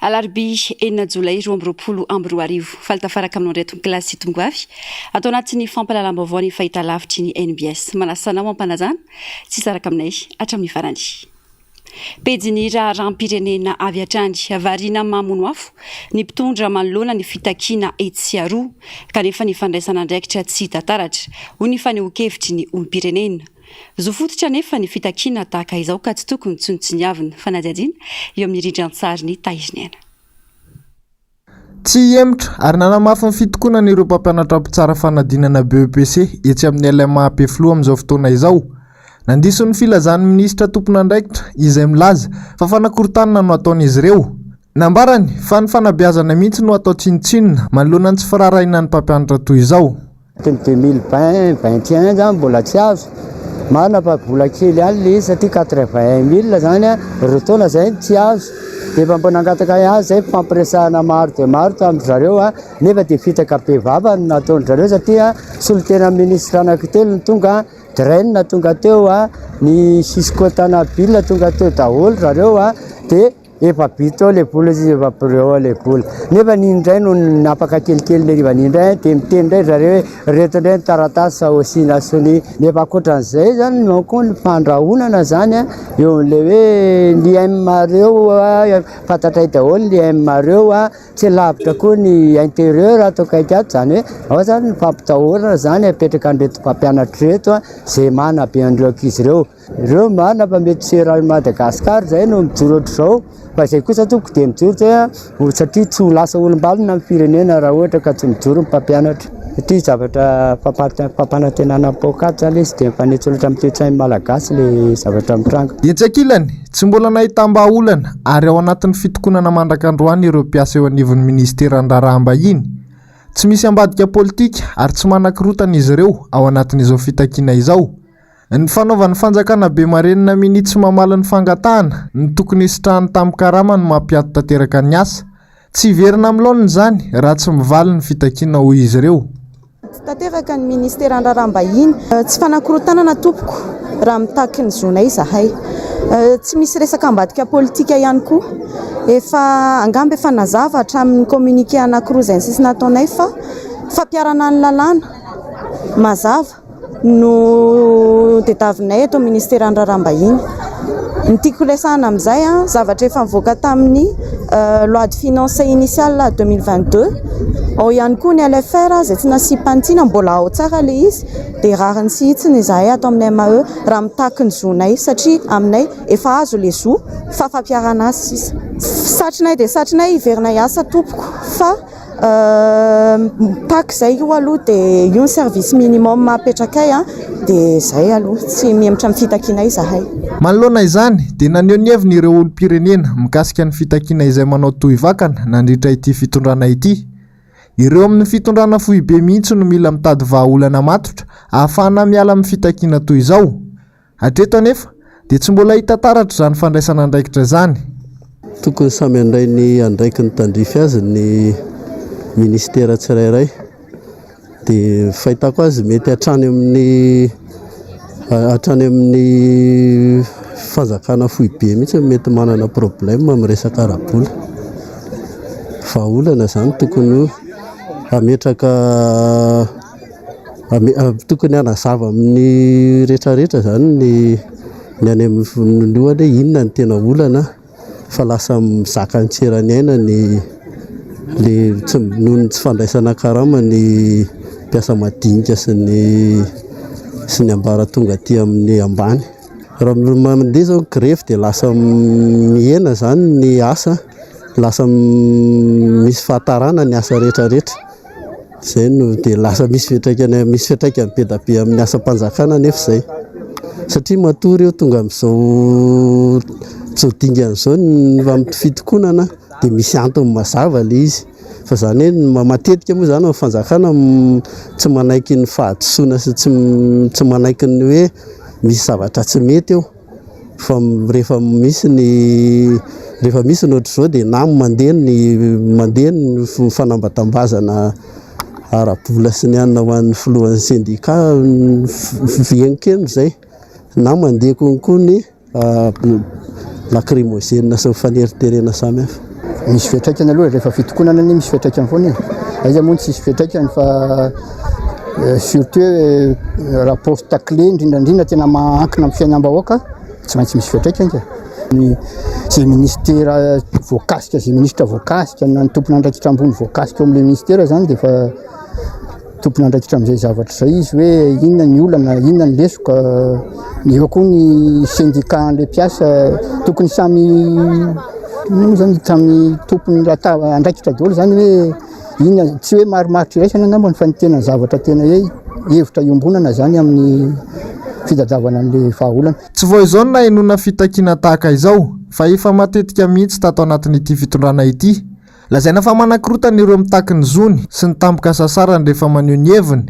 Alarobia enina jolay roa amby roapolo amby roa arivo, faly tafaraka aminao indray tonkilasy sy tongoavy ato anatin'ny fampahalalam-baovao ny fahitalavitry ny NBS. Manasa anao hampanajana sy hisaraka aminay hatramin'ny farany. Pejin'ny raharaham-pirenena avy hatrany, variana mamono afo ny mpitondra manoloana ny fitakiana etsy sy aroa kanefa ny fandraisan'andraikitra tsy hita taratra, hoy ny fanehoan-kevitry ny olom-pirenena. Zo fototra anefa ny fitakiana tahaka izao ka tsy tokony tsinontsiniavina. Fanadihadiana eo amin'ny rindran-tsarin'i Tahiriniaina. Tsy hihemotra ary nanamafy ny fitokonany ireo mpampianatra mpitsara fanadinana BEPC etsy amin'ny LMA Ampefiloha amin'izao fotoana izao. Nandiso ny filazan'ny minisitra tompon'andraikitra izay milaza fa fanakorontanana no ataon'izy ireo. Nambarany fa ny fanabeazana mihitsy no atao tsinontsinona manoloana ny tsy firaharahiana ny mpampianatra toy izao. Teny deux mille vingt, vingt et un zany mbola tsy azo, marina fa vola kely ihany le izy satria quatre vingt un mille zany a, roa taona zay no tsy azo, de efa mbola nangataka ahy azy zay fifampiresahana maro dia maro tamin-dry zareo a, nefa dia fitaka bevava no nataon-dry zareo satria solontenan'ny ministra anankitelo no tonga a, Dren tonga teo a, ny Cisco Tanaville tonga teo daholo ry zareo a, dia. Efa bitsy ao ilay vola izy, efa preux ao ilay vola. Nefa ny indray no napaka kelikely ilay rivana indray, dia miteny indray ry zareo hoe ireto indray ny taratasy sao asiana sonia. Nefa ankoatran'izay izany manko ny fandrahonana izany eo amin'ilay hoe ny aim-areo, fantatray daholo ny aim-areo, tsy lavitra koa ny interieur ato akaiky ato, izany hoe ao izany ny fampitahorana izany apetrakan'ireto mpampianatra ireto izay manabe an'ireo ankizy ireo. Ireo marina fa mety tsy eran'i Madagascar izay no mijoro ohatr'izao fa izay kosa tompoko dia mijoro dia satria tsy ho lasa olom-balona ny firenena raha ohatra ka tsy mijoro ny mpampianatra satria zavatra fampanantenana ny paokaty izany izy dia mifanitsy loatra amin'ny toe-tsain'ny malagasy ilay zavatra mitranga. Etsy ankilany, tsy mbola nahitam-bahaolana ary ao anatin'ny fitokonana mandrak'androany ireo mpiasa eo anivon'ny minisiteran'ny Raharaham-bahiny. Tsy misy ambadika politika ary tsy manan-kirotana izy ireo ao anatin'izao fitakiana izao. Ny fanaovan'ny fanjakana be marenina minia tsy mamaly ny fangatahana ny tokony hisitrahany tamin'ny karama no mampiato tanteraka ny asa. Tsy hiverina amin'ny laoniny izany raha tsy mivaly ny fitakiana hoy izy ireo. Tsy tanteraka ny ministeran'ny raharaham-bahiny. Tsy fanakorontanana tompoko raha mitaky ny zonay izahay. Tsy misy resaka ambadika politika ihany koa. Efa angamba efa nazava hatramin'ny communiqué anankiroa izay nisy nataonay fa fampiharana ny lalàna mazava. no tediavinay eto amin'ny Ministeran'ny Raharaham-bahiny. Ny tiako resahana amin'izay, zavatra efa nivoaka tamin'ny Loi de finances initiale deux mille vingt deux. Ao ihany koa ny LFR izay tsy nasiam-panitsiana, mbola ao tsara ilay izy. Dia rariny sy hitsiny izahay ato amin'ny MAE raha mitaky ny zonay, satria aminay efa azo ilay zo fa fampiharana azy sisa. Satrinay dia satrinay, hiverina hiasa tompoko fa. Pack zay io aloha dia io ny service minimum apetrakay dia zay aloha, tsy mihemotra amin'ny fitakiana izahay. Manoloana izany dia naneho ny heviny ireo olom-pirenena mikasika ny fitakiana izay manao tohy vakana nandritra ity fitondrana ity. Ireo amin'ny fitondrana foibe mihitsy no mila mitady vahaolana matotra ahafahana miala amin'ny fitakiana toy izao. Hatreto anefa dia tsy mbola hita taratra izany fandraisana andraikitra izany. Tokony samy handray ny andraikiny tandrify azy ny Ministera tsirairay. Dia fahitako azy mety hatrany amin'ny hatrany amin'ny fanjakana foibe mihitsy no mety manana problème amin'ny resaka ara-bola. Vahaolana izany tokony hametraka Tokony hanazava amin'ny rehetra rehetra izany ny ny any amin'ny volohalohan'ny hoe inona no tena olana fa lasa mizaka ny tsy eran'aina ny le tsy noho ny tsy fandraisana karama ny mpiasa madinika sy ny sy ny ambaratonga aty amin'ny ambany. Raha ny mandeha izao ny grevy dia lasa mihena izany ny asa, lasa misy fahatarana ny asa rehetra rehetra. Izay no dia lasa misy fiantraikany misy fiantraikany be dia be amin'ny asam-panjakana anefa izay satria matoa ireo tonga amin'izao zao dingana izao ny amin'ny fitokonana dia misy antony mazava ilay izy fa izany hoe matetika moa izany amin'ny fanjakana tsy manaiky ny fahadisoana sy tsy tsy manaiky ny hoe misy zavatra tsy mety eo. fa rehefa misy ny rehefa misy ny ohatr'izao dia na mandeha ny mandeha ny fanambatambazana ara-bola sy ny anona ho an'ny filohan'ny sendika henon-keno izay na mandeha konko ny lacrymogène sy ny faneriterena samihafa. Misy fiatraikany aloha rehefa fitokonana anie misy fiatraikany foana e. Aiza moa ny tsisy fiatraikany fa eh, surtout eh, rapport taclé indrindrandrindra tena mahankina amin'ny fiainam-bahoaka, tsy maintsy misy fiatraikany ka. Ny izay ministera voakasika, izay ministra voakasika, na ny tompon'andraikitra ambony voakasika ao amin'ilay ministera izany dia efa Tompon'andraikitra amin'izay zavatra izay izy hoe inona ny olana, inona ny lesoka. Eo koa ny sendika an'ilay mpiasa, tokony samy inona zany samy tompon'ny lataba andraikitra daholo izany hoe inona, tsy hoe marimaritra iraisana angambany fa ny tena zavatra tena hoe hevitra iombonana izany amin'ny fitadiavana an'ilay vahaolana. Tsy vao izao no nahenoana fitakiana tahaka izao fa efa matetika mihitsy tato anatin'ity fitondrana ity. Lazaina fa manakorotana ireo mitaky ny zony sy ny tampoka sasarany rehefa maneho ny heviny.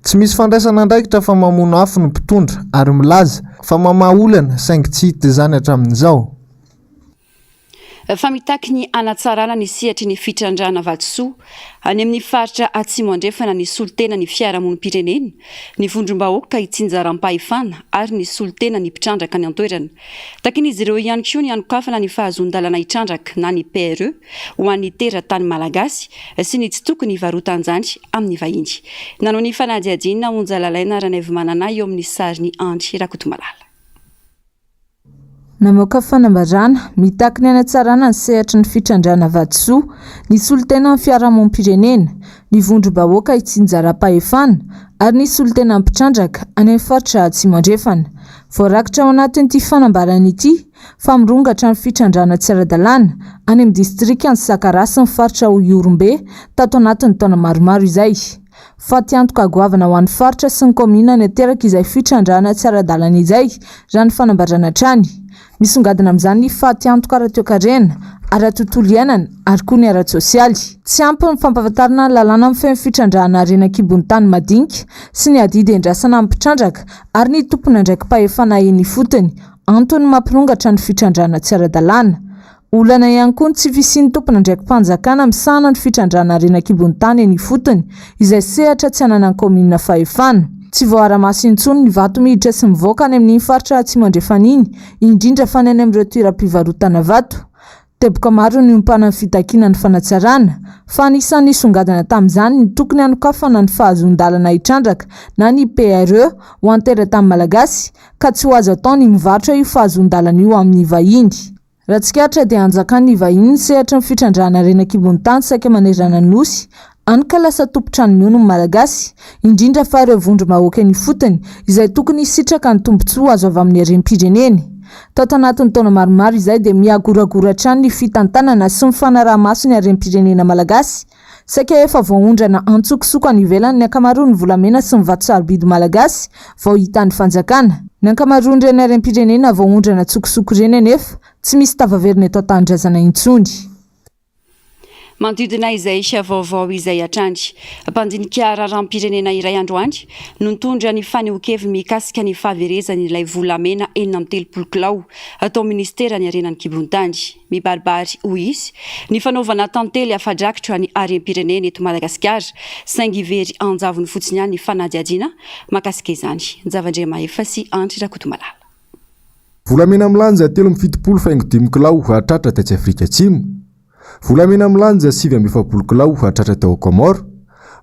Tsy misy fandraisana andraikitra fa mamono afo ny mpitondra ary milaza fa mamaha olana saingy tsy hita izany hatramin'izao. Fa mitaky ny hanatsarana ny sehatry ny fitrandrahana vatosoa any amin'ny faritra Atsimo Andrefana ny solontena ny fiarahamonim-pirenena, ny vondrom-bahoaka itsinjaram-pahefana ary ny solontena ny mpitrandraka any an-toerana. Takin'izy ireo ihany koa ny hanokafana ny fahazoan-dalana hitrandraka na ny PRE ho an'ny teratany malagasy sy ny tsy tokony hivarotan-jany amin'ny vahiny. Nanao ny fanadihadiana Onja Lalaina Ranaivomanana eo amin'ny sarin'i Andry Rakotomalala. Namoaka fanambarana mitaky ny hanatsarana ny sehatry ny fitrandrahana vatosoa ny solontenan'ny fiarahamonim-pirenena, ny vondrom-bahoaka itsinjaram-pahefana ary ny solontenan'ny mpitrandraka any amin'ny faritra Atsimo Andrefana. Voarakitra ao anatin'ity fanambarana ity fa mirongatra ny fitrandrahana tsy ara-dalàna any amin'ny distrikan'i Sakara sy ny faritra Ihorombe tato anatin'ny taona maromaro izay. Fatiantoka goavana ho an'ny faritra sy ny kaominina ny ateraka izay fitrandrahana tsy ara-dalana izay raha ny fanambarana hatrany. Misongadina amin'izany ny fatiantoka ara-toekarena, ara-tontolo iainana ary koa ny ara-tsosialy. Tsy ampy ny fampahafantarana ny lalàna mifehy ny fitrandrahana harena an-kibon'ny tany madinika sy ny adidy iandrasana amin'ny mpitrandraka ary ny tompon'andraiki-pahefana eny ifotony, antony mampirongatra ny fitrandrahana tsy ara-dalàna. Olana ihany koa ny tsy fisian'ny tompon'andraiki-panjakana misahana ny fitrandrahana harena an-kibon'ny tany eny ifotony, izay sehatra tsy ananan'ny kaominina fahefana. Tsy voaara-maso intsony ny vato miditra sy mivoaka any amin'iny faritra atsimo andrefana iny, indrindra fa ny any amin'ireo toeram-pivarotana vato. Teboka maro niompana ny fitakiana ny fanatsarana, fa anisan'ny nisongadina tamin'izany ny tokony hanokafana ny fahazoan-dalana hitrandraka na ny PRE ho an-teratany malagasy ka tsy ho azo atao ny mivarotra io fahazoan-dalana io amin'ny vahiny. Raha tsikaritra dia anjakan'ny vahiny ny sehatry ny fitrandrahana ren'an-kibon'ny tany saika manerana ny Nosy Hany ka lasa tompon-trano miono ny Malagasy, indrindra fa ireo vondrom-bahoakan' ifotony, izay tokony hisitraka ny tombontsoa azo avy amin'ny harem-pireneny. Tato anatin'ny taona maromaro izay dia mihagoragora hatrany ny fitantanana sy ny fanaraha-maso ny harem-pirenena malagasy. Saika efa voaondrana antsokosoko any ivelany ny ankamaroan'ny volamena sy ny vato sarobidy malagasy vao hitan'ny fanjakana. Ny ankamaroan'ireny harem-pirenena voaondrana antsokosoko ireny anefa tsy misy tavaverina eto an-tanindrazana intsony. Manodidina izay vaovao izay hatrany, mpandinika raharaham-pirenena iray androany no nitondra ny fanehoan-keviny mikasika ny fahaverezan'ilay volamena enina amby telopolo kilao tao minisiteran'ny harena ny kibon-tany. Mibaribary, hoy izy, ny fanaovana tantely afa-drakitra ny harem-pirenena eto Madagasikara, saingy very an-javony fotsiny ihany ny fanadihadiana makasika izany. Njavandriamahefa sy Andry Rakotomalala. Volamena milanja telo amby fitopolo faingo dimy kilao hatratra tetsy Afrika Atsimo, volamena milanja sivy amby efapolo kilao hatratra tao Comores,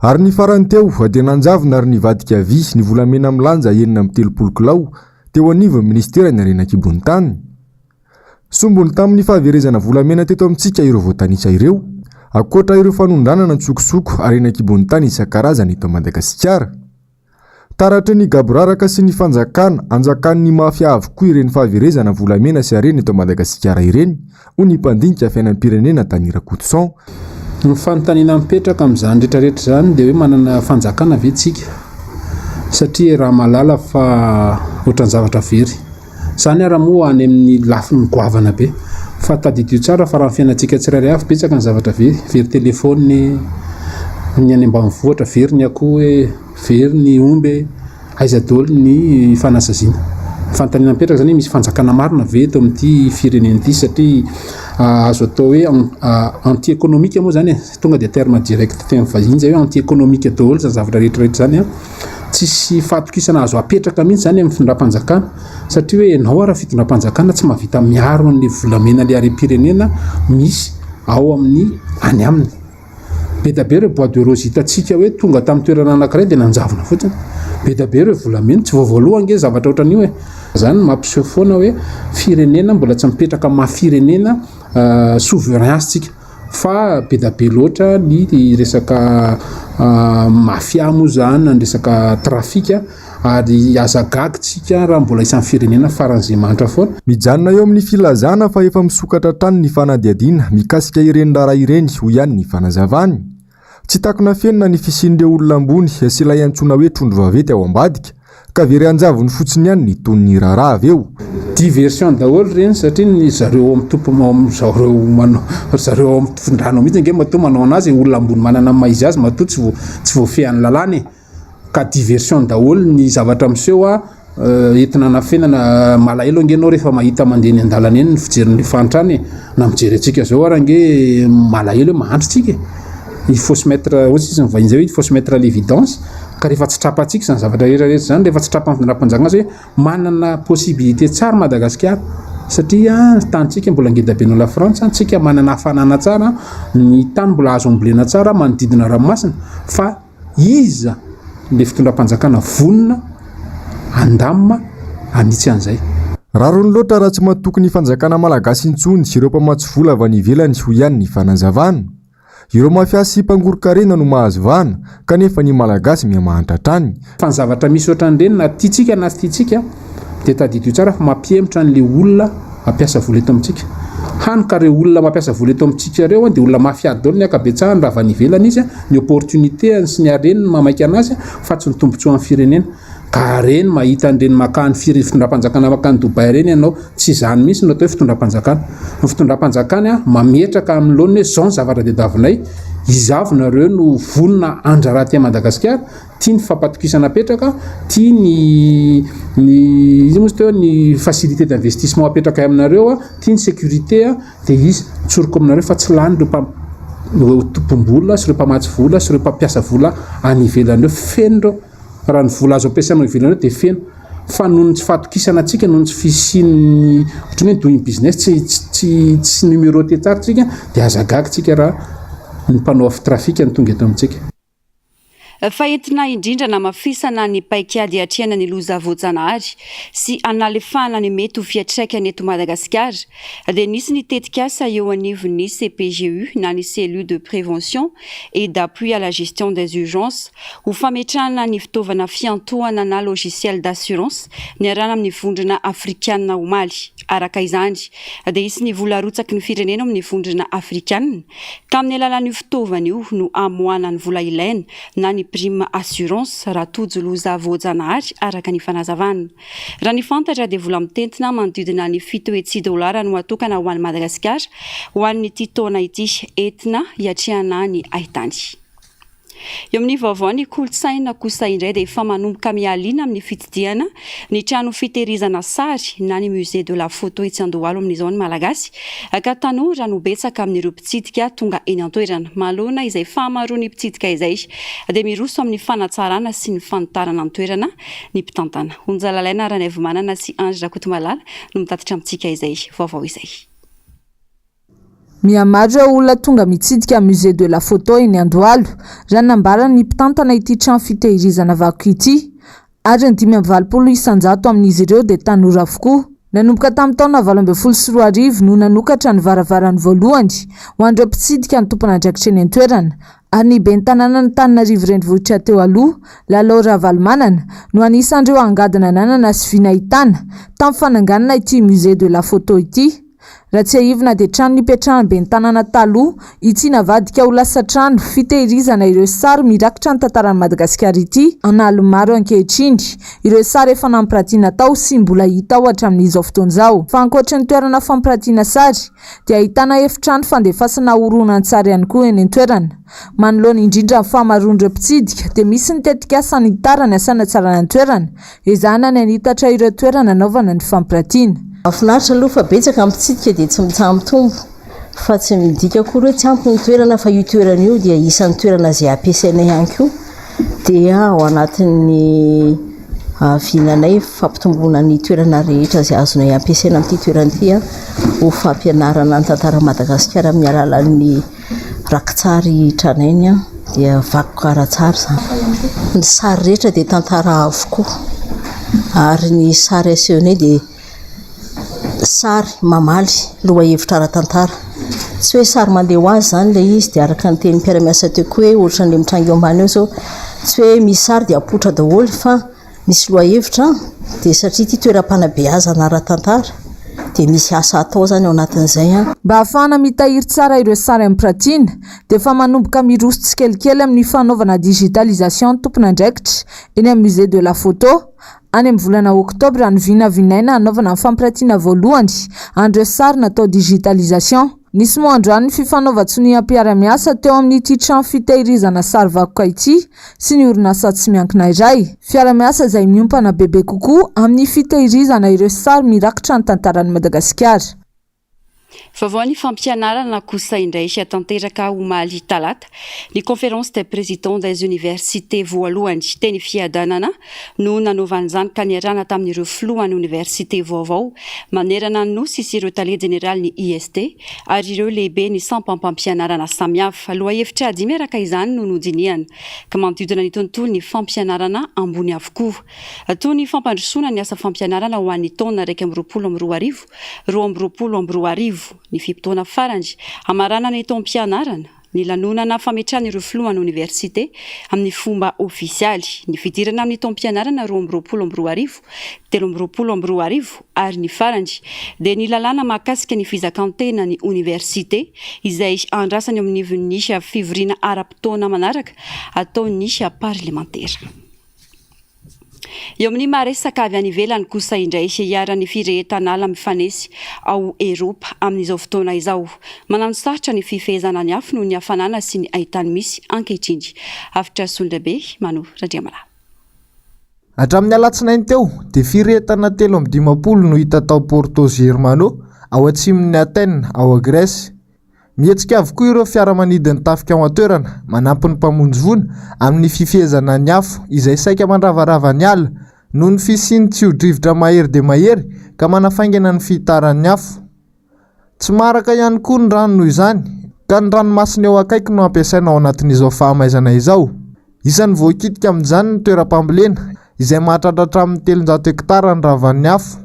ary ny farany teo dia nanjavona ary nivadika havia ny volamena milanja enina amby telopolo kilao teo anivon'ny Ministeran'ny Harena An-kibon'ny Tany. Sombiny tamin'ny fahaverezana volamena teto amintsika ireo voatanisa ireo, ankoatra ireo fanondranana an-tsokosoko harena an-kibon'ny tany isan-karazany eto Madagasikara. Taratry ny gaboraraka sy ny fanjakana, anjakan'ny mafia avokoa ireny fahaverezana volamena sy harena eto Madagasikara ireny, hoy ny mpandinika fiainam-pirenena Dany Rakotoson. Ny fanontaniana mipetraka amin'izany rehetrarehetra izany dia hoe manana fanjakana ve isika? Satria raha mahalala fa ohatran'ny zavatra very. Izany ary moa any amin'ny lafiny goavana be. Fa tadidio tsara fa raha ny fiainantsika tsirairay avy, betsaka ny zavatra very. Very téléphone, ny any ambanivohitra, very ny akoho e, very ny omby e, aiza daholo ny fanasaziana? Ny fanontaniana mipetraka izany hoe misy fanjakana marina ve eto amin'ity firenena ity satria azo atao hoe anti économique moa izany e, tonga dia terme direct teny vahiny izay hoe anti économique daholo izany zavatra rehetra rehetra izany an! Tsisy fahatokisana azo apetraka mihitsy izany amin'ny findram-panjakana satria hoe ianao ary fitondram-panjakana tsy mahavita miaro an'ilay volamena ilay harem-pirenena misy ao amin'ny any aminy. Be dia be ireo bois de rose hitantsika hoe tonga tamin'ny toerana anankiray dia nanjavona fotsiny. Be dia be ireo volamena tsy vao voalohany nge zavatra ohatran'io hoe izany mampiseho foana hoe firenena mbola tsy mipetraka maha firenena euh, souverain tsika. Fa be da be loatra ny resaka mafia moa zany na ny resaka trafic ary aza gaga tsika raha mbola isan'ny firenena faran'izay manitra foana. Mijanona eo amin'ny filazana fa efa misokatra hatrany ny fanadihadiana mikasika ireny raharaha ireny, hoy ihany ny fanazavany. Tsy takona fenina ny fisian'ireo olona ambony sy ilay antsoina hoe trondro vaventy ao ambadika ka very anjavony fotsiny ihany ny tonon'ny raharaha avy eo. Diversion daholo ireny satria ny zareo ao amin'ny zareo ao amin'ny fitondrana ao mihitsy ange matoa manao an'azy e, olona ambony manana ny maha izy azy matoa tsy voafehin'ny lalàna e. ka diversion daholo ny zavatra miseho a, entina anafenana, malahelo ange enao rehefa mahita mandeha eny an-dalana eny ny fijery ny fahantrana e, na mijery antsika zao ary ange malahelo hoe mahantra tsika e, il faut se mettre, hoy sisa ny vahiny zay hoe il faut se mettre à l'évidence, ka rehefa tsy trapantsika zany zavatra rehetra rehetra zany, rehefa tsy trapan'ny fandraharaham-panjakana azy hoe manana possibilité tsara Madagasikara satria ny tanintsika mbola ngeda be noho la frantsa, tsika manana hafanana tsara, ny tany mbola azo ambolena tsara manodidina ranomasina fa Iza ilay fitondram-panjakana vonona handamina hanitsy an'izay? Rariny loatra raha tsy matoky ny fanjakana malagasy intsony ireo mpamatsy vola avy any ivelany, hoy ihany ny fanazavana. Ireo mafia sy mpangoron-karena no mahazo vahana kanefa ny malagasy mihamahantra hatrany. Fa ny zavatra misy ohatran'ireny na tiantsika na tsy tiantsika dia tadidio tsara fa mampihemotra an'le olona mampiasa vola eto amintsika. Hany ka reo olona mampiasa vola eto amintsika reo dia olona mafia dol ny akabetsahany raha avy any ivelany izy, ny opportunité any sy ny hareny mamaika anazy fa tsy ny tombotsoan'ny firenena. Ka reny mahita an'ireny maka ny fitondram-panjakana maka any Dubai ireny ianao, tsy izany mihitsy no atao hoe fitondram-panjakana. Ny fitondram-panjakana dia mametraka amin'ny laoniny hoe izao ny zava-draha tadiavinay, izaho avy nareo no vonona handrara aty Madagasikara, Tia ny fampatokisana apetraka, tia ny ny iza moa izy teo ny facilité d'investissement apetraka aminareo, tia ny sécurité dia izy tsoriko aminareo fa tsy lany ireo mpam ireo tompom-bola sy ireo mpamatsy vola sy ireo mpampiasa vola any ivelany ireo, feno ireo raha ny vola azo ampiasaina ao ivelany ao dia feno fa noho ny tsy fahatokisana antsika noho ny tsy fisian'ny ohatran'ny hoe doing business tsy tsy tsy numéroté tsara tsika dia aza gaga tsika raha ny mpanao trafic no tonga eto amintsika. fa entina indrindra hanamafisana ny paikady hiatrehana ny loza voajanahary sy hanalefahana ny mety ho fiantraikany eto Madagasikara dia nisy ny tetikasa eo anivon'ny CPGU na ny Cellule de Prévention et d'Appui à la Gestion des Urgences ho fametrahana ny fitaovana fiantohana na logiciel d'assurance niarahana amin'ny Vondrona Afrikana omaly. Araka izany dia hisy ny vola arotsaky ny firenena ao amin'ny Vondrona Afrikana Tamin'ny alalan'io fitaovana io no amoahana ny vola ilaina na ny prime assurance raha tojo loza voajanahary, araka ny fanazavana. Raha ny fantatra dia vola mitentina manodidina ny fito hetsy dolara no atokana ho an'i Madagasikara ho an'ity taona ity, entina hiatrehana ny haitany. Eo amin'ny vaovao ny kolontsaina kosa indray dia efa manomboka mihaliana amin'ny fitsidihana ny trano fitehirizana sary na ny musée de la photo etsy Andohalo amin'izao ny Malagasy ka tanora no betsaka amin'ireo mpitsidika tonga eny an-toerana. Manoloana izay fahamaroan'ny mpitsidika izay dia miroso amin'ny fanatsarana sy ny fanitarana ny toerana ny mpitantana. Onjalalaina Ranaivomanana sy Andry Rakotomalala no mitatitra amintsika izay vaovao izay. Mihamaro ireo olona tonga mitsidika Musée de la Photo eny Andohalo, raha ny nambaran'ny mpitantana ity trano fitehirizana vakoka ity, ary ny dimy amby valopolo isan-jato amin'izy ireo dia tanora avokoa. Nanomboka tamin'ny taona valo ambin'ny folo sy roa arivo no nanokatra ny varavarany voalohany ho an'ireo mpitsidika ny tompon'andraikitra eny an-toerana, ary ny ben'ny tanànan'Antananarivo Renivohitra teo aloha, Lalao Ravalomanana, no anisan'ireo angady nananana sy vy nahitana, tamin'ny fananganana ity Musée de la Photo ity. Raha tsiahivina dia trano nipetrahan'ny ben'ny tanàna taloha i Tsinavadika ho lasa trano fitehirizana ireo sary mirakitra ny tantaran'i Madagasikara ity an'aliny maro ankehitriny. Ireo sary efa nampiratiana tao sy mbola hita ao hatramin'izao fotoana izao. Fa ankoatry ny toerana fampiratiana sary dia ahitana efitrano fandefasana horonantsary ihany koa eny an-toerana. Manoloana indrindra ny fahamaroan'ireo mpitsidika dia misy ny tetikasa hanitàrany sy hanatsarana ny toerana Ezahana ny hanitatra ireo toerana hanaovana ny fampiratiana. Mahafinaritra aloha fa betsaka ny mpitsidika dia tsy mitsaha-mitombo fa tsy midika akory hoe tsy ampy ny toerana fa io toerana io dia isan'ny toerana izay ampiasainay ihany koa dia ao anatin'ny vinanay fampitomboana ny toerana rehetra izay azonay ampiasaina amin'ity toerana ity ho fampianarana ny tantaran'i Madagasikara amin'ny alalan'ny Rakitsary tranainy an! dia vakoka ara-tsary izany. Ny sary rehetra dia tantara avokoa ary ny sary asehonay dia sary mamaly lohahevitra ara-tantara. Tsy hoe sary mandeha ho azy izany ilay izy dia araka ny tenin'ny mpiara-miasa teo koa hoe ohatran'ilay mitranga eo ambany eo izao, tsy hoe misy sary dia apoitra daholo fa. Misy lohahevitra an! dia satria ity toeram-panabeazana ara-tantara dia misy asa atao izany ao anatin'izay an! Mba hahafahana mitahiry tsara ireo sary ampirantiana dia efa manomboka miroso tsikelikely amin'ny fanaovana digitalisation ny tompon'andraikitra eny amin'ny Musée de la Photo. Any amin'ny volana oktobra no vinavinaina hanaovana ny fampirantiana voalohany an'ireo sary natao digitalisation. Nisy moa androany ny fifanaovan-tsonia mpiara-miasa teo amin'ity trano fitahirizana sary vakoka ity sy ny orinasa tsy miankina iray. Fiara-miasa izay miompana bebe kokoa amin'ny fitahirizana ireo sary mirakitra ny tantaran'i Madagasikara. Vaovao ny fampianarana kosa indray hiatanteraka omaly talata Ny Conférence des Présidents des Universités voalohany, teny Fiadanana, no nanaovana izany ka niarahana tamin'ireo filohan'ny oniversite vaovao manerana ny Nosy sy ireo tale jeneralin'ny IST ary ireo lehiben'ny sampam-pampianarana samihafa. Lohahevitra dimy araka izany no nodinihana ka manodidina ny tontolon'ny fampianarana ambony avokoa toy ny fampandrosoana ny asa fampianarana ho an'ny taona iraika amby roapolo amby roa arivo roa amby roapolo amby roa arivo, ny fe-potoana farany hamaranana ny taom-pianarana, ny lanonana fametrahana ireo filohan'ny oniversite amin'ny fomba ofisialy, ny fidirana amin'ny taom-pianarana roa amby roapolo amby roa arivo, telo amby roapolo amby roa arivo ary ny farany dia ny lalàna mahakasika ny fizakan-tenan'ny oniversite izay andrasana eo anivon'ny fivoriana ara-potoana manaraka ataon'ny parlemantera. Eo amin'ny maha resaka avy any ivelany kosa indray, iharan'ny firehetan'ala mifanesy ao Eropa amin'izao fotoana izao. Mananosarotra ny fifehezana ny afo noho ny hafanana sy ny haitany misy ankehitriny. Hafitra Sondrabe, Mano Randriamalaho. Hatramin'ny alatsinainy teo dia firehetana telo amby dimampolo no hita tao Porto Germano, ao atsimon'i Athènes, ao Grèce. Mihetsika avokoa ireo fiaramanidin'ny tafika ao an-toerana, manampy ny mpamonjy voina amin'ny fifehezana ny afo izay saika mandravarava ny ala, noho ny fisian'ny tsio-drivotra mahery dia mahery ka manafaingana ny fihitaran'ny afo. Tsy maharaka ihany koa ny rano noho izany, ka ny ranomasina eo akaiky no ampiasaina ao anatin'izao fahamaizana izao. Isan'ny voakitika amin'izany ny toeram-pambolena, izay mahatratra hatramin'ny telonjato hektara ny ravan'ny afo.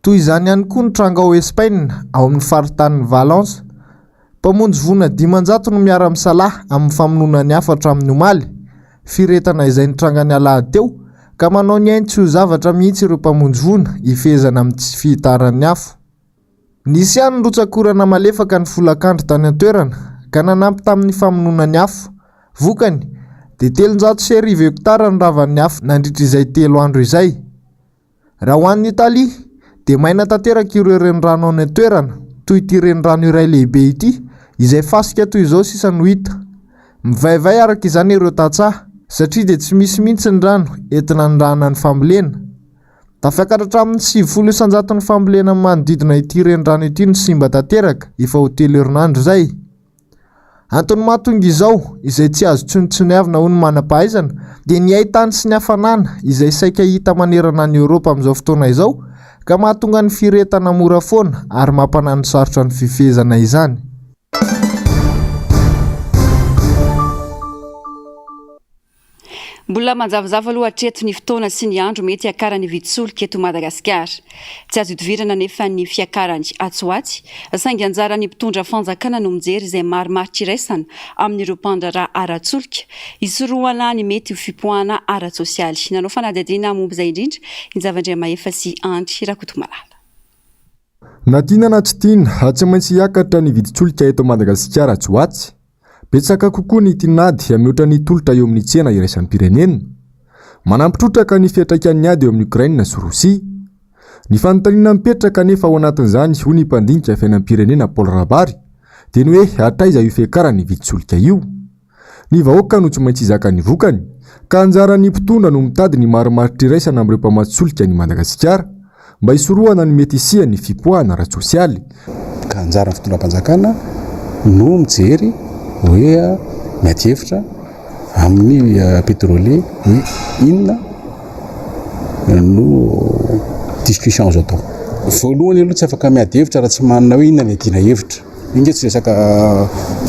Toy izany ihany koa ny tranga ao Espaina, ao amin'ny faritanin'i Valence. Mpamonjy voina dimanjato no miara-misalahy amin'ny famonoana ny hafa hatramin'ny omaly. Firehetana izay nitranga ny alahady teo, ka manao ny ainy tsy ho zavatra mihitsy ireo mpamonjy voina, hifehezana amin'ny tsy fihitaran'ny afo. Nisy ihany ny rotsak'orana malefaka ny folakandro tany an-toerana, ka nanampy tamin'ny famonoana ny afo. Vokany, dia telonjato sy arivo hektara ny ravan'ny afo nandritra izay telo andro izay. Raha ho an'i Italia, dia maina tanteraka ireo renirano any an-toerana, toy ity renirano iray lehibe ity, izay fasika toy izao sisa no hita. Mivaivay araka izany ireo tantsaha, satria dia tsy misy mihitsy ny rano enti-nanirahana ny fambolena. Tafiakatra hatramin'ny sivifolo isan-jato ny fambolena amin'ny manodidina ity renirano ity no simba tanteraka, efa ho telo herinandro izay. Antony mahatonga izao, izay tsy azo tsinotsiniavina hoy ny manam-pahaizana, dia ny haitany sy ny hafanana izay saika hita manerana an'i Eoropa amin'izao fotoana izao, ka mahatonga ny firehetana mora foana ary mampanano sarotra ny fifehezana izany. Mbola manjavozavo aloha hatreto ny fotoana sy ny andro mety hiakaran'ny vidin-tsolika eto Madagasikara. Tsy azo idivirana anefa ny fiakarany atsy ho atsy, saingy anjaran'ny mpitondra fanjakana no mijery izay marimaritra iraisana amin'ireo mpandraharaha ara-tsolika, hisorohana ny mety ho fipoahana ara-tsosialy. Nanao fanadihadiana momba izay indrindra i Njava Andriamahefa sy Andry Rakotomalala. Na tiana na tsy tiana, tsy maintsy hiakatra ny vidin-tsolika eto Madagasikara atsy ho atsy. Betsaka kokoa ny tinady mihoatra ny tolotra eo amin'ny tsena iraisam-pirenena. Manampy trotraka ny fiantraikan'ny ady eo amin'i Okraina sy Rosia. Ny fanontaniana mipetraka anefa ao anatin'izany, hoy ny mpandinika fiainam-pirenena Paul Rabary, dia ny hoe hatraiza io fiakaran' ny vidin-tsolika io. Ny vahoaka no tsy maintsy hizaka ny vokany, ka anjaran'ny mpitondra no mitady ny marimaritra iraisana amin'ireo mpamatsy solika an'i Madagasikara, Mba hisorohana ny mety hisian'ny fipoahana ara-tsosialy, ka anjaran'ny fitondram-panjakana no mijery hoe miady hevitra amin'ny petrole hoe inona no discussion azo atao. Voalohany aloha tsy afaka miady hevitra raha tsy manana hoe inona no iadiana hevitra. Enga tsy resaka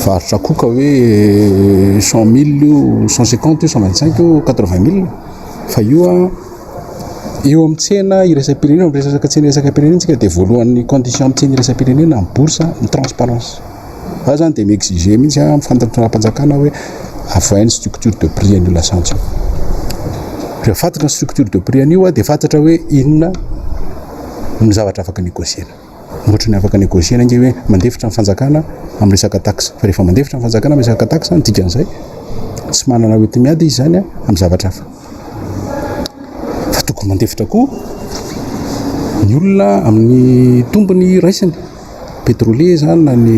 varotra koa ka hoe cent mille io, cent cinquante io, cent vingt cinq io, quatre vingt mille fa io an eo amin'ny tsena iraisam-pirenena eo amin'ny resaka tsena iraisam-pirenena isika dia voalohan'ny condition amin'ny tsena iraisam-pirenena amin'ny bourse ny transparence za zany dia mi-exige mihitsy amin'ny fantanjam-panjakana hoe avoahy ny structure de prix an'io lasantsy io rehefa fantatra ny structure de prix an'io dia fantatra hoe inona ny zavatra afaka negocier-na Ohatrany afaka negocier-na ange hoe mandefitra ny fanjakana amin'ny resaka tax. Fa rehefa mandefitra ny fanjakana amin'ny resaka tax ny dikan'izay tsy manana hoenti-miady izy izany amin'ny zavatra hafa. Fa tokony mandefitra koa ny olona amin'ny tombony raisiny. Pétrolier izany na ny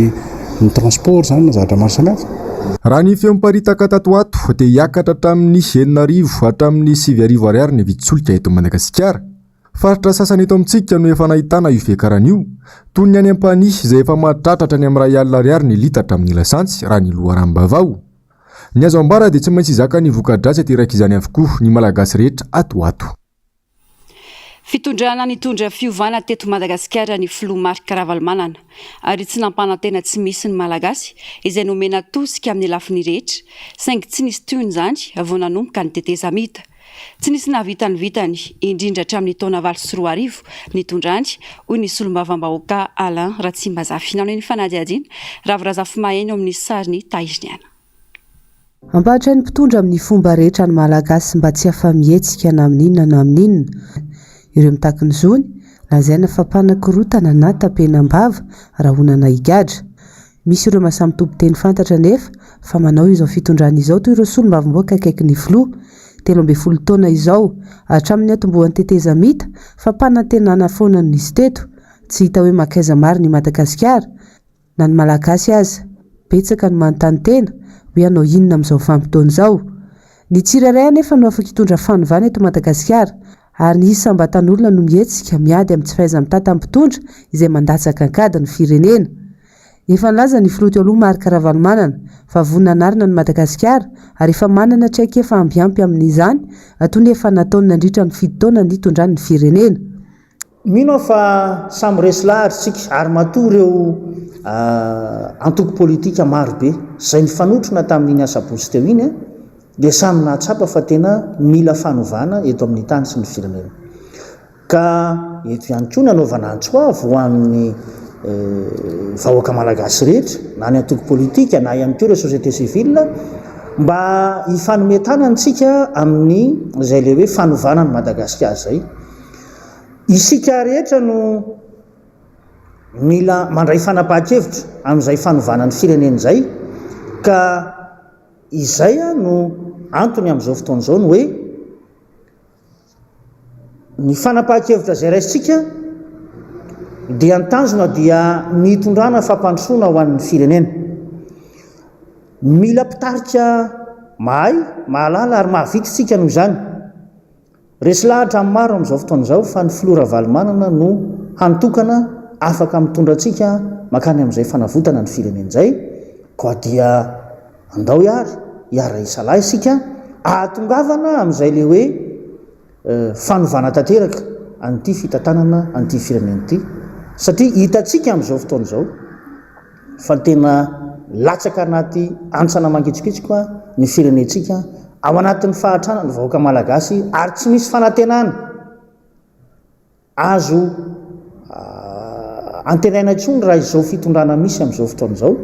ny transport izany na zavatra maro samihafa. Raha ny feo miparitaka tato ho ato dia hiakatra hatramin'ny enina arivo hatramin'ny sivy arivo ariary ny vidin-tsolika eto Madagasikara. Faritra sasany eto amintsika no efa nahitana io fiakarana io, toy ny any Ampanihy izay efa mahatratra hatrany amin'ny iray alina ariary ny litatra amin'ny lasantsy raha ny loharanom-baovao. Ny azo ambara dia tsy maintsy hizaka ny voka-dratsy aterak'izany avokoa ny Malagasy rehetra ato ho ato. Fitondrana nitondra fiovana teto Madagasikara ny Filoha Marc Ravalomanana ary tsy nampanantena tsy misy ny Malagasy izay nomena tosika amin'ny lafiny rehetra saingy tsy nisy tohiny izany vao nanomboka ny tetezamita. Tsy nisy nahavita ny vitany, indrindra hatramin'ny taona valo sy roa arivo nitondrany, hoy ny solombavambahoaka Alain Ratsimbazafy, nanohy ny fanadihadiana Ravo Razafimaheno amin'ny sarin'i Tahiriniana. Hampahatra ny mpitondra amin'ny fomba rehetra ny Malagasy mba tsy afa-mihetsika na amin'inona na amin'inona. Ireo mitaky ny zony, lazaina fa mpanakorontana na tapenam-bava, rahonana higadra. Misy ireo maha samy tompon-teny fantatra anefa fa manao izao fitondrana izao toy ireo solombavambahoaka akaiky ny filoha, telo ambin'ny folo taona izao, hatramin'ny niantombohan'ny tetezamita, fampanantenana foana no nisy teto, tsy hita hoe mankaiza marina i Madagasikara, na ny Malagasy aza. Betsaka no manontany tena hoe hanao inona amin'izao vanim-potoana izao. Ny tsirairay anefa no afaka hitondra fanovana eto Madagasikara, ary ny isam-batan'olona no mihetsika miady amin'ny tsy fahaiza-mitantan'ny mpitondra izay mandatsaka an-kady ny firenena. Efa nilaza ny filoha teo aloha Marc Ravalomanana fa vonona hanarina an'i Madagasikara ary efa manana traikefa ambiampy amin'izany toa ny efa nataony nandritra ny fito taona nitondrany ny firenena. Mino aho fa samy resy lahatra isika ary matoa ireo antoko politika maro be izay nifanotrona tamin'iny asabotsy teo iny dia samy nahatsapa fa tena mila fanovana eto amin'ny tany sy ny firenena. Ka eto ihany koa nanaovana antso avo ho an'ny vahoaka malagasy rehetra na ny antoko politika na ihany koa ireo société civile mba hifanome tanana isika amin'ny izay ilay hoe fanovana an'i Madagasikara izay. Isika rehetra no mila mandray fanapahan-kevitra amin'izay fanovana ny firenena izay ka izay no antony amin'izao fotoana izao ny hoe ny fanapahan-kevitra izay raisintsika dia ny tanjona dia ny hitondrana fampandrosoana ho an'ny firenena. Mila mpitarika mahay, mahalala ary mahavita isika noho izany. Resy lahatra amin'ny maro amin'izao fotoana izao fa ny Filoha Ravalomanana no hany tokana afaka mitondra antsika mankany amin'izay fanavotana ny firenena izay, koa dia andao ihary hiara-hisalahy isika ahatongavana amin'izay le hoe fanovana tanteraka an'ity fitantanana an'ity firenena ity satria hitantsika amin'izao fotoana izao. fa tena latsaka anaty antsana mangitsokitsoka ny firenentsika ao anatin'ny fahatrana ny vahoaka malagasy ary tsy misy fanantenana azo antenaina intsony raha izao fitondrana misy amin'izao fotoana izao.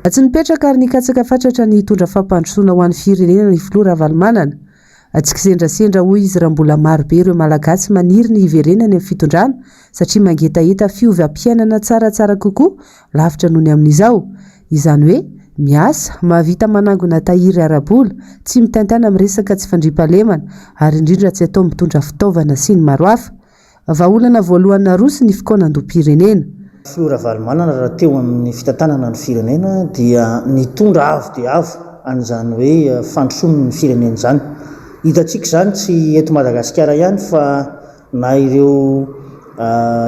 Tsy nipetraka ary nikatsaka fatratra ny hitondra fampandrosoana ho an'ny firenena ny filoha Ravalomanana. Tsy kisendrasendra hoy izy raha mbola maro be ireo Malagasy maniry ny hiverenany amin'ny fitondrana satria mangetaheta fiovam-piainana tsaratsara kokoa lavitra noho ny amin'izao. Izany hoe miasa, mahavita manangona tahiry ara-bola, tsy mitaintaina amin'ny resaka tsy fandriampahalemana ary indrindra tsy atao mitondra fitaovana sy ny maro hafa. Vahaolana voalohany naroso ny fikaonandoham-pirenena. Filoha Ravalomanana raha teo amin'ny fitantanana ny firenena dia nitondra avo dia avo an'izany hoe fandrosoana ny firenena izany. Hitantsika izany tsy eto Madagasikara ihany fa na ireo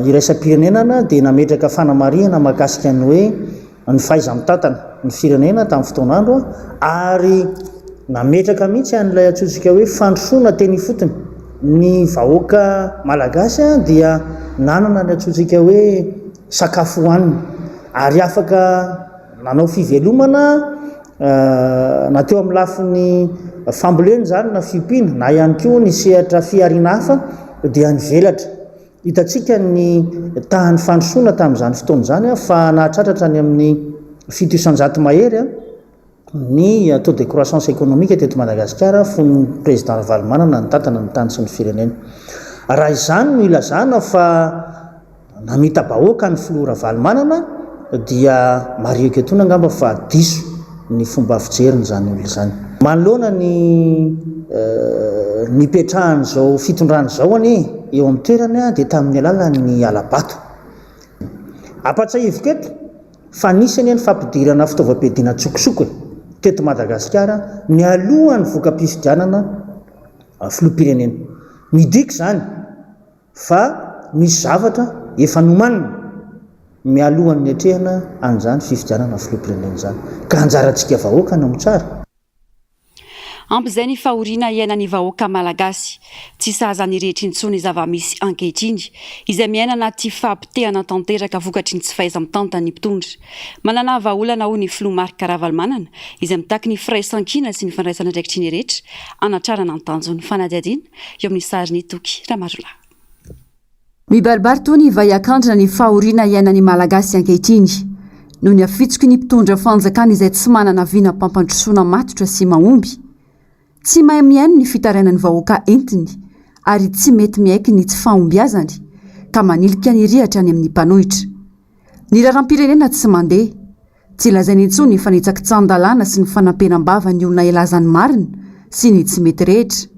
iraisam-pirenenana dia nametraka fanamarihana mahakasika ny hoe. ny fahaiza-mitantana ny firenena tamin'ny fotoan'andro ary nametraka mihitsy an'ilay antsointsika hoe fandrosoana teny ifotony. Ny vahoaka malagasy dia nanana ny antsointsika hoe sakafo hohanina ary afaka nanao fivelomana na teo amin'ny lafiny fambolena izany na fiompiana na ihany koa ny sehatra fihariana hafa dia nivelatra. Hitantsika ny tahan'ny fandrosoana tamin'izany fotoana izany fa nahatratratra any amin'ny fito isan-jato mahery ny taux de croissance économique teto Madagasikara fony Président Ravalomanana nitantana ny tany sy ny firenena. Raha izany no ilazana fa namita-bahoaka ny Filoha Ravalomanana dia mariho eto an-toerana angamba fa diso. ny fomba fijeriny izany olona izany. Manoloana ny nipetrahan'izao fitondrana izao anie eo amin'ny toerany dia tamin'ny alalan'ny hala-bato. Ampahatsahiviko eto fa nisy anie ny fampidirana fitaovam-piadiana an-tsokosoko teto Madagasikara nialohan'ny voka-pifidianana filoham-pirenena. Midika izany. Fa misy zavatra efa nomanina mialohan'ny niatrehana an'izany fifidianana filoham-pirenena izany, ka anjarantsika vahoaka ny mitsara. Ampy izay ny fahoriana iainan'ny vahoaka malagasy. Tsy sahaza ny rehetra intsony ny zava-misy ankehitriny, izay miaina anaty fahapotehana tanteraka vokatry ny tsy fahaiza-mitantan'ny mpitondra. Manana vahaolana hoy ny filoha Marc Ravalomanana, izay mitaky ny firaisankina sy ny fandraisana andraikitry ny rehetra hanatrarana ny tanjon'ny fanadihadiana. Eo amin'ny sarin'i Toky Ramarolahy. Mibaribary toa ny vaiakandrina ny fahoriana iainan'ny Malagasy ankehitriny noho ny hafitsoky ny mpitondra fanjakana izay tsy manana vinam-pampandrosoana matotra sy mahomby, tsy mahay mihaino ny fitarainan'ny vahoaka entiny ary tsy mety miaiky ny tsy fahombiazany ka manilika ny rihatra any amin'ny mpanohitra. Ny raharaham-pirenena tsy mandeha. Tsy lazainy intsony fa ny tsakitsahan-dalàna sy ny fanampenam-bava ny olona hilaza ny marina sy ny tsy mety rehetra.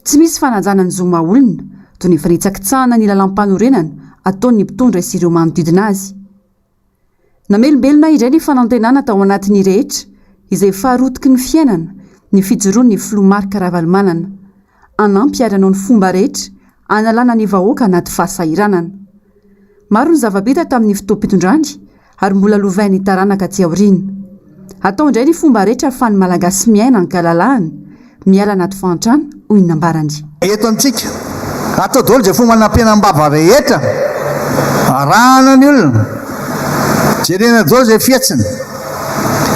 Tsy misy fanajana ny zo maha-olona, toy ny fanitsakitsahana ny lalàmpanorenana ataon'ny mpitondra sy ireo manodidina azy. Namelombelona indray ny fanantenana tao anatin'ny rehetra, izay faharotiky ny fiainana, ny fijoroan'ny filoha Marc Ravalomanana. hanampy ary hanao ny fomba rehetra hanalana ny vahoaka anaty fahasahiranana. Maro ny zava-bita tamin'ny fotoam-pitondrany ary mbola lovain'ny taranaka aty aoriana. Atao indray ny fomba rehetra ahafahan'ny Malagasy miaina an-kalalahana, miala anaty fahantrana, hoy ny nambarany. Eto amintsika, atao daholo izay fomba hanampiana am-bava rehetra arahana ny olona. Jerena daholo izay fihetsiny.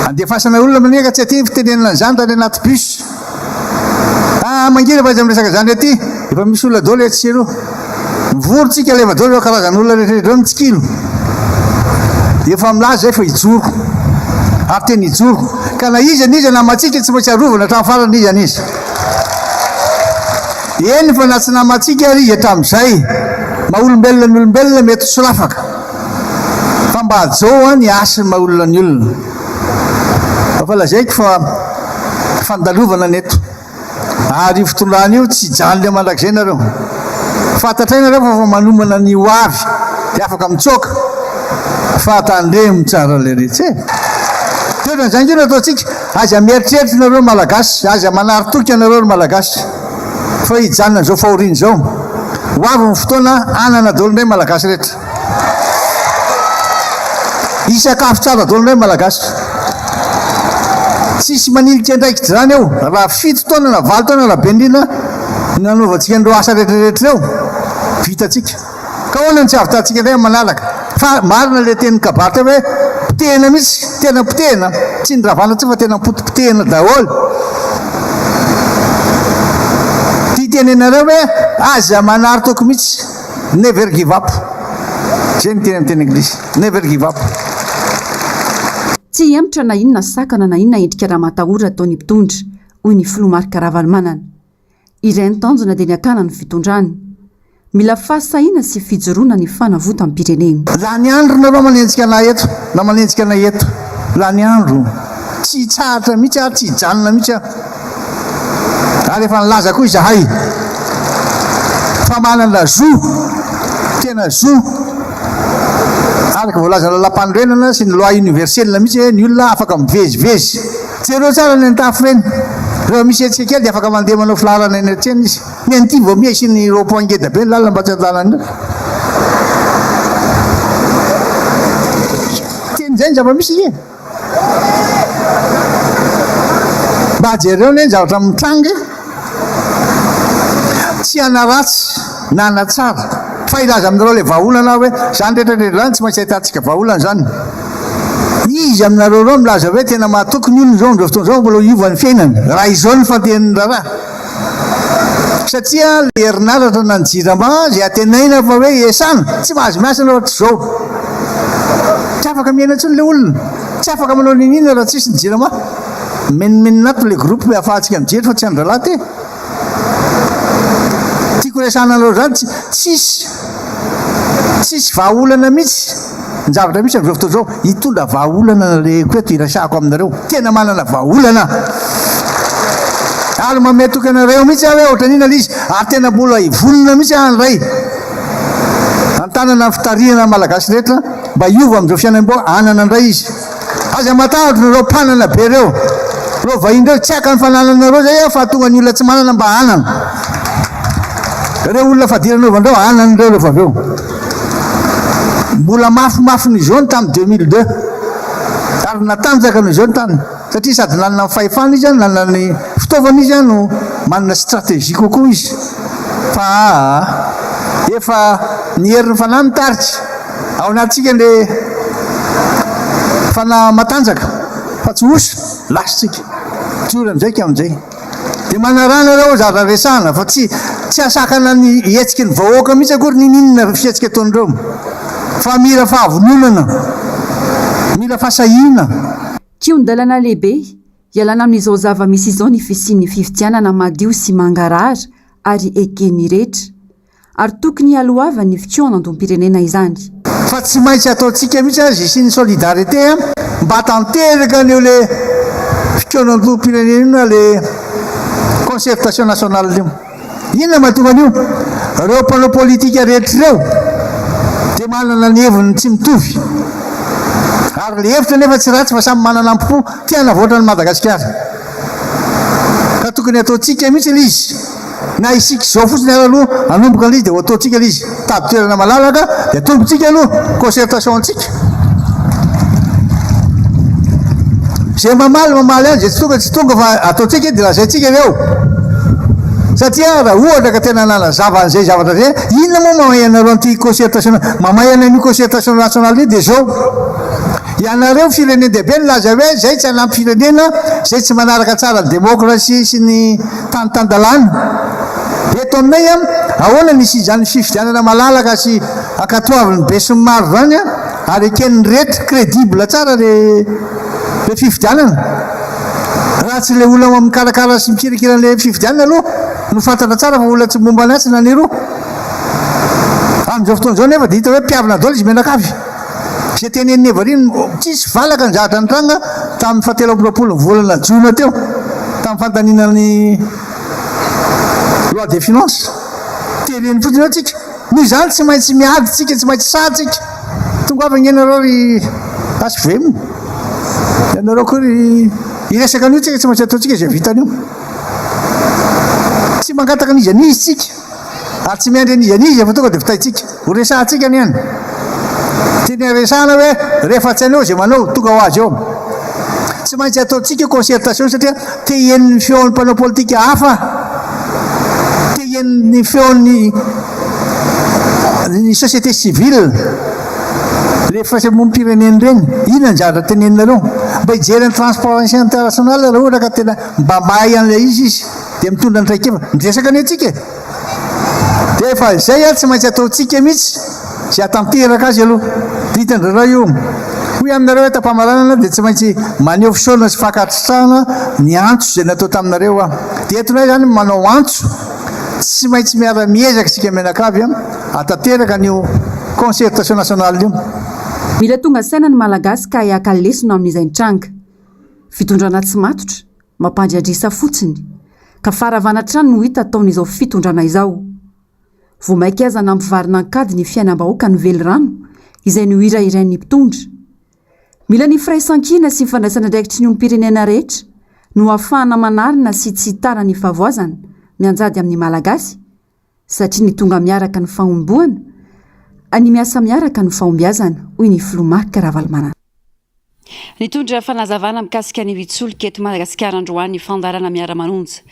Andefasana olona manekana tsy aty ny fitenenana an'izany raha any anaty bus. Ah, mangina fa aiza miresaka zany rety? Efa misy olona dolo etsy sy eroa. Mivory tsika leva dolo ireo karazana olona rehetra ireo mitsikilo. Dia efa milaza zay fa hijoro. Ary tena hijoro. Ka na iza n'iza namatsika tsy maintsy arovana hatramin'ny farany izy any izy. Eny fa na tsy namatsika ary izy hatramin'izay. Maha olombelona ny olombelona mety ho solafaka. Fa mba hajao an ny hasin'ny maha olona ny olona. Efa lazaiko fa fandalovana ny eto. Ary io fitondrana io tsy hijanona eo mandrakizay nareo. Fantatray nareo fa efa manomana ny ho avy dia afaka mitsoaka. Fa tandremo tsara le retsy e. Toetra ny zany koa no ataontsika. Aza mieritreritra nareo Malagasy. Aza manary toky anareo ry Malagasy. Fa hijanona izao fahoriana izao. Ho avy ny fotoana hanana dolo indray Malagasy rehetra. Hisakafo tsara daholo indray ny Malagasy. Tsisy manilika andraikitra izany eo. Raha fito taona na valo taona raha be indrindra no nanaovantsika an'ireo asa rehetrarehetra ireo, vitantsika. Ka ahoana no tsy hahavitantsika indray amin'ny manaraka? Fa marina ilay tenin'ny kabary teo hoe potehina mihitsy, tena potehina, tsy ny ravana intsony fa tena potipotehina daholo. Tia tenenareo hoe aza manary toky mihitsy. Never give up. Zay ny teny amin'ny teny anglisy. Never give up. Tsy hihemotra na inona sakana na inona endrika raha matahora ataon'ny mpitondra, hoy ny filoha Marc Ravalomanana. Iray ny tanjona dia ny hakana ny fitondrana. Mila fahasahiana sy fijoroana ny fanavotam-pirenena. Lany andro nareo manenjika anah eto na manenjika anay eto. Lany andro. Tsy hitsahatra mihitsy aho, tsy hijanona mihitsy aho. Ary efa nilaza koa izahay fa manana zo, tena zo, araka voalazan'ny Lalàmpanorenana sy ny Loi universelle mihitsy hoe ny olona afaka mivezivezy. Jereo tsara ny an-tafo ireny. Rehefa misy hetsika kely dia afaka mandeha manao filaharana eny an-tsena izy. Ny an'ity vao miha hisian'ny rond point ngeda be ny lalana mba tsy an-dalana io. Teny izay ny zava-misy e! Mba jereo anie ny zavatra mitranga e! Tsy hanaratsy na hanatsara fa hilaza aminareo ilay vahaolana aho hoe izany rehetra rehetra izany tsy maintsy ahitantsika vahaolana izany. Iza aminareo ireo milaza hoe tena mahatoky ny olona izao amin'izao fotoana izao mbola hiova ny fiainany raha izao ny fandehany ny raharaha? Satria ilay herinaratra na ny jirama izay antenaina fa hoe hiasana, tsy mahazo miasa ianao raha tsy izao. Tsy afaka miaina intsony ilay olona, tsy afaka manao n'inon'inona raha tsisy ny jirama. Mimenomenona ato ilay groupe hoe afahantsika mijery fa tsy an-drahalahy ity. Tiako resahana anareo izany, tsisy tsisy vahaolana mihitsy. Ny zavatra misy amin'izao fotoana izao, hitondra vahaolana ny alehako eto hiresahako aminareo. Tena manana vahaolana aho. Ary mametoky anareo mihitsy aho hoe ohatran'inona ilay izy. Ary tena mbola hivonona mihitsy aho handray an-tanana ny fitarihana ny Malagasy rehetra mba hiova amin'izao fiainam-boahanana indray izy. Aza matahotra ireo mpanana be ireo. Ireo vahiny ireo tsy haka ny fanananareo zay fa tonga ny olona tsy manana mba hanana. Ireo olona fadirana ao Vandreo hanana ireo rehefa avy eo. Mbola mafimafy ny zone tamin'ny 2002 ary natanjaka ny zone tany satria sady nanana ny fahefana izy nanana ny fitaovana izy no manana stratégie kokoa izy fa efa ny herin'ny fanahy mitarika Ao anatintsika ny fanahy matanjaka fa tsy osa, lasintsika. Tsorina amin'izay ka amin'izay. Dia manarana ireo zavatra resahana fa tsy tsy asakana ny hetsiky ny vahoaka mihitsy akory ninininona fihetsika ataon'ireo. Fa mila fahavononana, mila fasahiana. Kihon-dalana lehibe hialana amin'izao zava-misy izao ny fisian'ny fifidianana madio sy mangarahara ary eken'ny rehetra. Ary tokony hialohavan'ny fitsoanan-dompirenena izany. Fa tsy maintsy ataontsika mihitsy aza isian'ny solidarité mba tanteraka an'io le fitsoanan-dompirenena io na le concertation nationale io. Inona mahatonga an'io? Reo mpanao politika rehetra reo dia manana ny heviny tsy mitovy. Ary le hevitra nefa tsy ratsy fa samy manana ampo te hanavoatra an'i Madagasikara. Ka tokony ataontsika mihitsy le izy. Na isika izao fotsiny ary aloha hanomboka ilay izy dia ho ataontsika ilay izy tabi-toerana malalaka dia atombontsika aloha concertation antsika. Izay mamaly mamaly any, izay tsy tonga tsy tonga fa ataontsika dia lazaintsika avy eo. Satria raha ohatra ka tena nanazava an'izay zavatra izay, inona moa mamay anareo an'ity concertation, mamay an'io concertation nationale io dia izao. Ianareo firenen-dehibe nilaza hoe izay tsy hanampy firenena, izay tsy manaraka tsara ny démocratie sy ny Tany tan-dalàna. Eto aminay an, ahoana ny hisian'izany fifidianana malalaka sy ankatoavin'ny besinimaro izany an, ary eken'ny rehetra, credible tsara ilay fifidianana. Raha tsy ilay olona mikarakara sy mikirakira an'ilay fifidianana aloha no fantatra tsara fa olona tsy momba ny asa na ny roa. Amin'izao fotoana izao anefa dia hita hoe mpihavina daholo izy mianakavy. Izay tenenin'i Evelyn, Tsisy valaka ny zavatra nitranga tamin'ny fahatelo amby roapolo ny volana jona teo, tamin'ny fandaniana ny loi des finances. Tereny fotsiny eo tsika. Noho izany tsy maintsy miady tsika, tsy maintsy sahy tsika. Tongava ange nareo ry HVM. Ianareo koa ry hiresaka an'io tsika tsy maintsy ataontsika izay vitan'io. Tsy mangataka an'iza n'iza tsika. Ary tsy miandry an'iza n'iza fa tonga dia vitaintsika. Ho resahantsika anie ny tiany haresahana hoe rehefa tsy anao izay manao, tonga ho azy eo. Tsy maintsy ataontsika concertation satria te hihaino ny feon'ny mpanao politika hafa, te hihaino ny feon'ny ny société civile, le firaisamonim-pirenena ireny. Inona ny zavatra teneninareo? Mba hijery an'i Transparency International raha ohatra ka tena mba mahay an'ilay izy izy. dia mitondra ny traikefa miresaka ny antsika e dia efa izay ary tsy maintsy ataontsika mihitsy sy atanteraka azy aloha ditan-drarao io hoy aminareo hoe tampamaranana dia tsy maintsy maneho fisaorana sy fankasitrahana ny antso izay natao taminareo a dia entonay izany manao antso tsy maintsy miara miezaka isika mianakavy a atanteraka an'io concertation nationale io Mila tonga saina ny Malagasy ka hiaka lesona amin'izay nitranga. Fitondrana tsy matotra. Mampandriadrisa fotsiny, ka faharavana hatrany no hita ataon'izao fitondrana izao. Vao mainka aza nampivarina an-kady ny fiainam-bahoaka ny velirano, izay nohirahirain'ny mpitondra. Mila ny firaisankina sy fandraisana andraikitry ny olom-pirenena rehetra no hahafahana manarina sy tsy hitara ny fahavoazana mianjady amin'ny Malagasy, Satria ny tonga miaraka ny fahomboana, ny miasa miaraka no fahombiazana, hoy ny filoha Marc Ravalomanana. Nitondra fanazavana mikasika ny hitsolika eto Madagasikara androany ny fandaharana Miara-manonja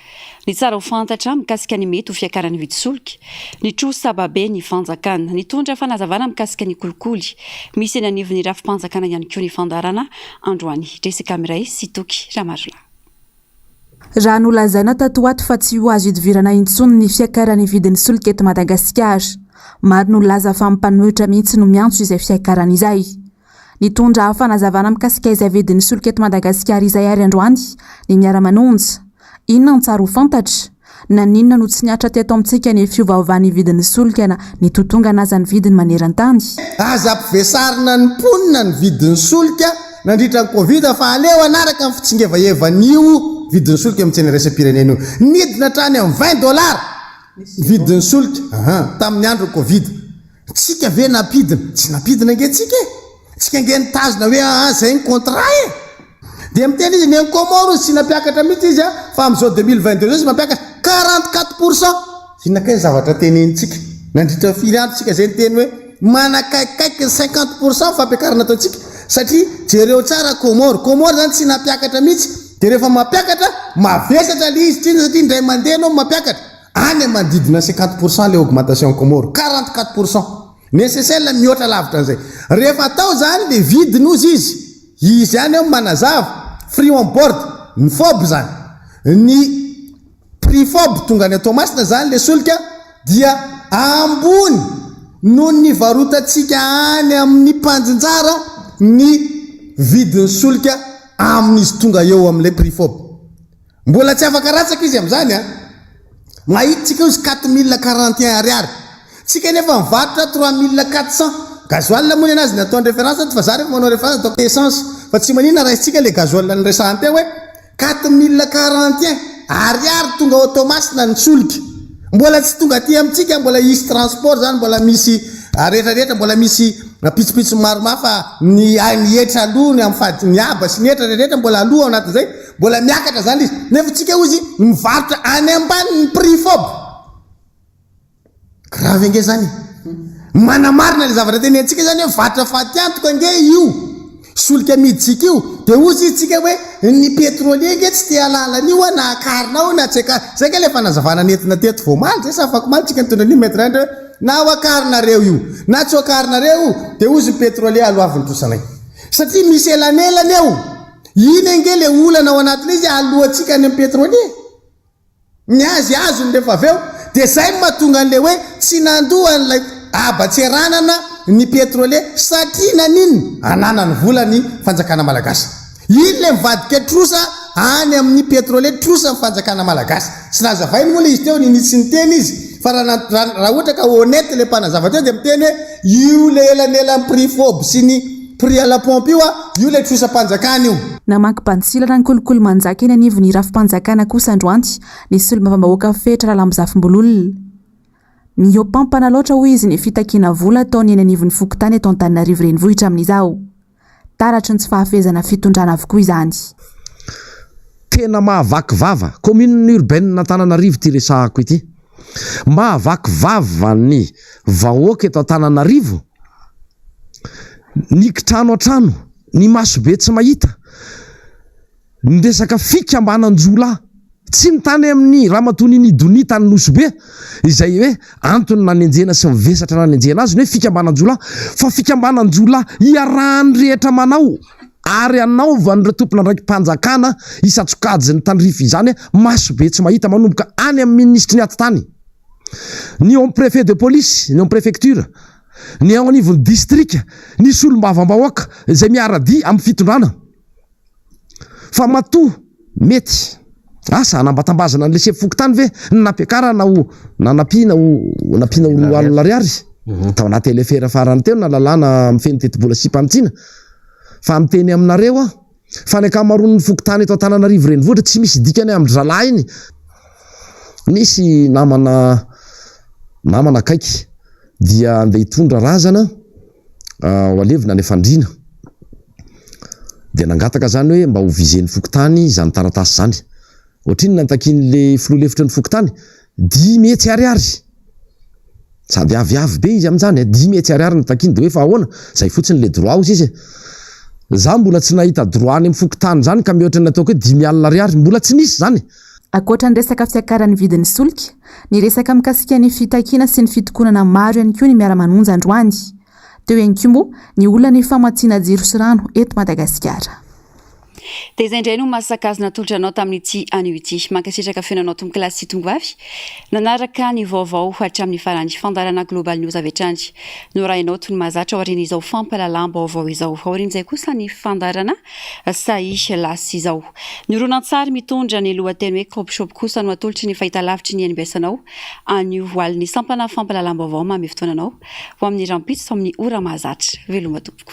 ny tsara ho fantatra mikasika ny mety ho fiakaran'ny vidin-tsolika, ny trosa baben'ny fanjakana. Nitondra fanazavana mikasika ny kolikoly misy eny anivon'ny rafi-panjakana ihany koa ny fandaharana androany. Jessica Miray sy Toky Ramarola. Raha nolazaina tato ho ato fa tsy ho azo idivirana intsony ny fiakaran'ny vidin'ny solika eto Madagasikara. Maro no nilaza fa ny mpanohitra mihitsy no miantso izay fiakarana izay. Nitondra fanazavana mikasika izay vidin'ny solika eto Madagasikara izay àry androany ny Miara-manonja. Inona no tsara ho fantatra? Naninona no tsy nihatra teto amintsika ny fiovaovan'ny vidin'ny solika na nitotongana aza ny vidiny maneran-tany? Aza ampivesarina ny mponina ny vidin'ny solika nandritra ny Covid fa aleo hanaraka ny fitsingevaevan'io vidin'ny solika eo amin'ny tsena iraisam-pirenena io. Nidina hatrany amin'ny vingt dollars ny vidin'ny solika tamin'ny andron'ny Covid. Tsika ve nampidina? Tsy nampidina ange tsika e! Tsika ange nitazona hoe aa zay ny contrat e! Dia miteny izy ny any Comores izy tsy nampiakatra mihitsy izy a, fa amin'izao 2022 izao izy mampiakatra 44 pour cent! Inona kay ny zavatra tenenintsika? Nandritra ny firy andro tsika zay niteny hoe manakaikikaiky ny 50 pour cent ny fampiakarana ataontsika? Satria jereo tsara Comores, Comores izany tsy nampiakatra mihitsy, dia rehefa mampiakatra mavesatra ilay izy, satria indray mandeha ianao no mampiakatra. Any manodidina cinquante pour cent le augmentation Comores, quarante quatre pour cent. Ny SSL mihoatra lavitra an'izay. Rehefa atao izany dia vidiny hozy izy. Izy ihany ao manazava, free on board, ny fob izany. Ny prix fob tonga any Toamasina izany le solika dia ambony noho ny varotantsika any amin'ny mpandrinjara ny vidin'ny solika amin'izy tonga eo amin'ilay prix fob. Mbola tsy afaka ratsaka izy amin'izany an! Mahita tsika ozy quatre mille quarante et un ariary. Tsika nefa mivarotra trois mille quatre cent. Gasoil moa nenazy ny ataony reference ato fa za refa manao reference ataoko essence fa tsy manina raisintsika le gasoil niresahany teo hoe quatre mille quarante et un ariary tonga ao Toamasina ny solika. Mbola tsy tonga aty amintsika mbola hisy transport zany mbola misy rehetra rehetra mbola misy pitsopitsony maromaro fa ny ainy hetra aloha ny amin'ny fadiny haba sy ny hetra rehetra mbola aloha ao anatin'izay Mbola miakatra zany le izy. Nefa tsika hoy izy mivarotra any ambany ny prix fob. Grave ange zany e. Manamarina le zavatra tenenintsika zany hoe varotra fatiantoka ange io. Solika amidintsika io. De hoy izy tsika hoe ny pétrolier ange tsy te halala an'io a na akarina ao na tsy akarina. Zay ange le fanazavana nentina teto vao omaly zay sa afaky omaly tsika nitondra an'io maître Indra hoe na ho akarinareo io na tsy ho akarinareo io de hoy izy ny pétrolier aloavin'ny trosanay. Satria misy elanelana eo. Iny ange le olana ao anatiny izy alohantsika any am petrole e! Ny azy azony rehefa avy eo dia zay no mahatonga an'le hoe tsy nandoa an'ilay haban-tseranana ny petrole satria naninona? Ananany vola ny fanjakana malagasy. Iny le mivadika trosa any amin'ny petrole trosa ny fanjakana malagasy. Tsy nazavainy moa le izy teo nini tsy niteny izy fa raha raha ohatra ka honnête le mpanazava teo dia miteny hoe io le elanelan'ny prix fob sy ny Prix à la pompe io a, io le trosam-panjakana io. Namaky bantsilana ny kolikoly manjaka eny anivon'ny rafi-panjakana kosa androany ny solombavambahoaka Fetra Ralambozafimbololona. Mihoampampana loatra hoy izy ny fitakiana vola ataony eny anivon'ny fokontany eto Antananarivo Renivohitra amin'izao. Taratry ny tsy fahafehezana fitondrana avokoa izany. Tena mahavaky vava. Commune urbaine Antananarivo ity resahako ity. Mahavaky vava ny vahoaka eto Antananarivo, ny kitrano an-trano, ny maso be tsy mahita, ny resaka fikambanan-jiolahy tsy ny tany amin'i Ramatoa Ninidonia tany Nosy Be izay hoe antony nanenjehana sy ny vesatra nanenjehana azy ny hoe fikambanan-jiolahy fa fikambanan-jiolahy iarahan'ny rehetra manao. ary hanaovan'ireo tompon'andraiki-panjakana isan-tsokajiny tandrify izany maso be tsy mahita manomboka any amin'ny minisitry ny atitany, ny ao amin'ny préfet de police, ny ao amin'ny préfecture, ny ao anivon'ny distrika, ny solombavambahoaka izay miara-dia amin'ny fitondrana fa matoa Mety. Asa, hanambatambazana an'ilay sefo fokontany ve ny nampiakarana ho nanampiana ho nampiana ho roa alina ariary? Tao anaty LFR farany teo na lalàna mifehy ny tetibola sy fanitsiana. Fa miteny aminareo aho fa ny ankamaroan'ny fokontany eto Antananarivo Renivohitra tsy misy dikany amin-dry zalahiny. Nisy namana namana akaiky dia andeha hitondra razana. ho alevina any Fandriana dia nangataka izany hoe mba ho viser ny fokontany izany taratasy izany. Ohatrinona no nitakian'ilay filoha lefitry ny fokontany? Dimy hetsy ariary! Sady aviavy be izy amin'izany eh, dimy hetsy ariary no nitakiany dia hoe fa ahoana? Izay fotsiny ilay droit hozy izy eh. Izaho mbola tsy nahita droit any amin'ny fokontany izany ka mihoatra ny ataoko hoe dimy alina ariary, mbola tsy nisy izany. Ankoatra ny resaka fiakaran'ny vidin'ny solika, niresaka mikasika ny fitakiana sy ny fitokonana maro ihany koa ny Miara-manonja androany. Teo ihany koa moa ny olana ny famatsiana jiro sy rano eto Madagasikara. Dia izay indray no maha sakazy natolotra anao tamin'ity anio ity. Mankasitraka fenanao tompokolahy sy tongovavy nanaraka ny vaovao hatramin'ny farany. Fandaharana Global News avy hatrany no arahinao toy ny mahazatra aorian'izao fampahalalam-baovao izao. Aorian'izay kosa ny fandaharana Sahy lasa izao. Ny horonantsary mitondra ny lohateny hoe Crop Shop kosa no atolotry ny fahitalavitry ny nbs anao anio alin'ny sampana fampahalalam-baovao maha mifotoana anao ho amin'ny rahampitso amin'ny ora mahazatra. Veloma tompoko.